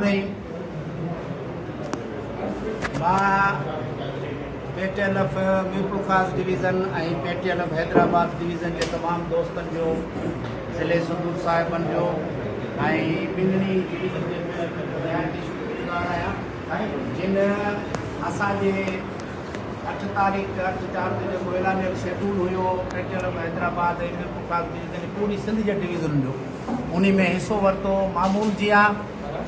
۾ ماء P T L F Mirpur Khas division ۽ P T L F Hyderabad division جي تمام دوستن جو ضلعي سنڌو صاحبن جو ۽ ٻنهي ڊويزن جي نهايت ئي شڪر گذار آهيان جن اسان جي اٺ تاريخ تي اٺ چار تي جيڪو اعلانيل شيڊول هيو P T L F Hyderabad ۽ Mirpur Khas division پوري سنڌ جي ڊويزنن جو انهي ۾ حصو ورتو، معمول جيان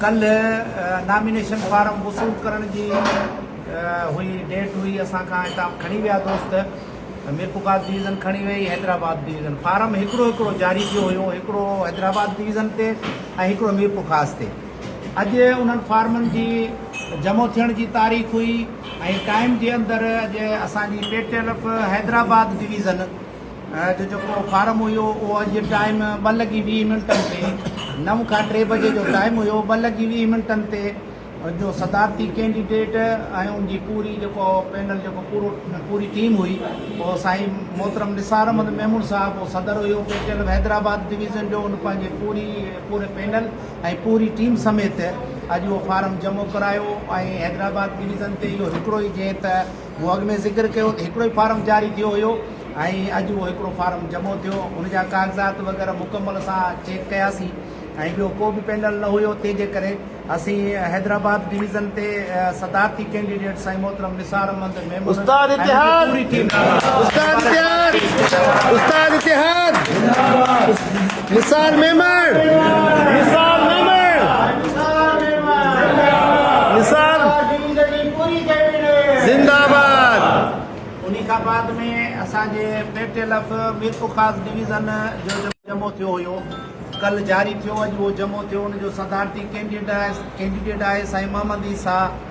ڪلهه نامينيشن فارم وصول ڪرڻ جي هئي ڊيٽ هئي اسان کان هتان کڻي ويا دوست ميرپورخاص ڊويزن کڻي ويئي حيدرآباد ڊويزن فارم هڪڙو هڪڙو جاري ٿيو هيو هڪڙو حيدرآباد ڊويزن تي ۽ هڪڙو ميرپورخاص تي اڄ انهن فارمن جي جمع ٿيڻ جي تاريخ هئي ۽ ٽائيم جي اندر اڄ اسان جي P T L F Hyderabad division جو جيڪو فارم هيو اهو اڄ ٽائيم ٻه لڳي ويهه منٽن تي نو کان ٽي بجي جو ٽائيم هيو ٻه لڳي ويهه منٽن تي جو صدارتي ڪينڊيڊيٽ ۽ ان جي پوري جيڪو پينل جيڪو پورو پوري ٽيم هئي اهو سائين محترم نثار احمد ميمون صاحب اهو صدر هيو P T L Hyderabad division جو ان پنهنجي پوري پوري پينل ۽ پوري ٽيم سميت اڄ اهو فارم جمع ڪرايو ۽ حيدرآباد ڊويزن تي اهو هڪڙو ئي جنهن ته مون اڳ ۾ ذڪر ڪيو ته هڪڙو ئي فارم جاري ٿيو هيو ۽ اڄ اهو هڪڙو فارم جمع ٿيو ان جا ڪاغذات وغيره مڪمل سان چيڪ ڪياسين ۽ ٻيو ڪو به پينل نه هيو تنهن جي ڪري اسين حيدرآباد ڊويزن تي صدارتي ڪينڊيڊيٽ سائين محترم نثار احمد ميمڻ استاد اتحاد پوري ٽيم استاد اتحاد استاد اتحاد زنداباد نثار ميمڻ نثار ميمڻ نثار ميمڻ نثار زندگي پوري ڪئي وڃي زنده آباد انهي کان بعد ۾ اسان جي P T L F Mirpurkhas division جو جمعو ٿيو هيو ڪل جاري ٿيو اڄ اهو جمعو ٿيو ان جو صدارتي ڪينڊيڊ آهي ڪينڊيڊيٽ آهي سائين محمد عيسيٰ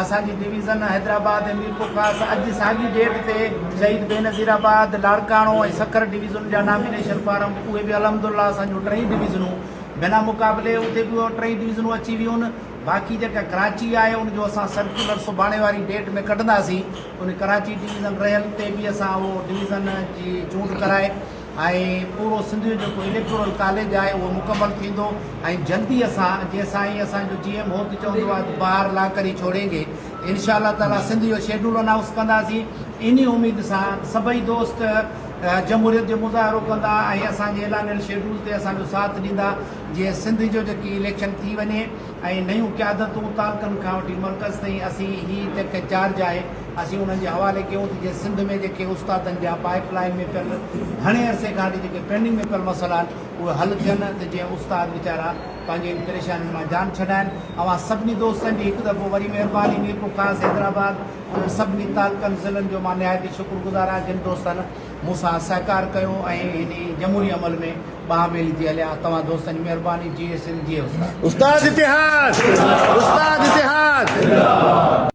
اسان جي ڊويزن حيدرآباد ۽ ميرپورخاص اڄ ساڳي ڊيٽ تي شهيد بينظير آباد، لاڙڪاڻو ۽ سکر ڊويزنن جا نامينيشن فارم اهي به الحمدالله اسان جون ٽئي ڊويزنون بنا مقابلي اتي به اهي ٽئي ڊويزنون اچي ويون باقي جيڪا ڪراچي آهي ان جو اسان سرڪيولر سڀاڻي واري ڊيٽ ۾ ڪڍنداسين ان ڪراچي ڊويزن رهيل تي به اسان اهو ڊويزن جي چونڊ ڪرائي ۽ پورو سنڌ جو جيڪو اليڪٽورل ڪاليج آهي اهو مڪمل ٿيندو ۽ جلدي اسان جيئن سائين اسان جو جي ايم هو ته چوندو آهي ته باهر لا ڪر هي ڇوڙين گي انشاء الله تعالي سنڌ جو شيڊول انائونس ڪنداسين انهي اميد سان سڀئي دوست جمهوريت جو مظاهرو ڪندا ۽ اسان جي اعلانيل شيڊول تي اسان جو ساٿ ڏيندا جيئن سنڌ جو جيڪي اليڪشن ٿي وڃي. ۽ نيون قيادتون تعلقن کان وٺي مرڪز تائين اسين هي ٽيڪ چارج آهي اسين انهن جي حوالي ڪيون ته جيئن سنڌ ۾ جيڪي استادن جا پائيپ لائين ۾ پيل گهڻي عرصي کان اڳ جيڪي پينڊنگ ۾ پيل مسئلا آهن اهي حل ٿين ته جيئن استاد ويچارا پنهنجي ان پريشانين مان جان ڇڏائين اوهان سڀني دوستن جي هڪ دفعو وري مهرباني ميرپورخاص حيدرآباد انهن سڀني تعلقن ضلعن جو مان نهايت ئي شڪر گذار آهيان جن دوستن مون سان سهڪار ڪيو ۽ هن جمهوري عمل ۾ ٻانهن ميلي ٿي هليا. توهان دوستن جي مهرباني. جيئي سنڌ جيئي استاد. استاد اتحاد! استاد اتحاد!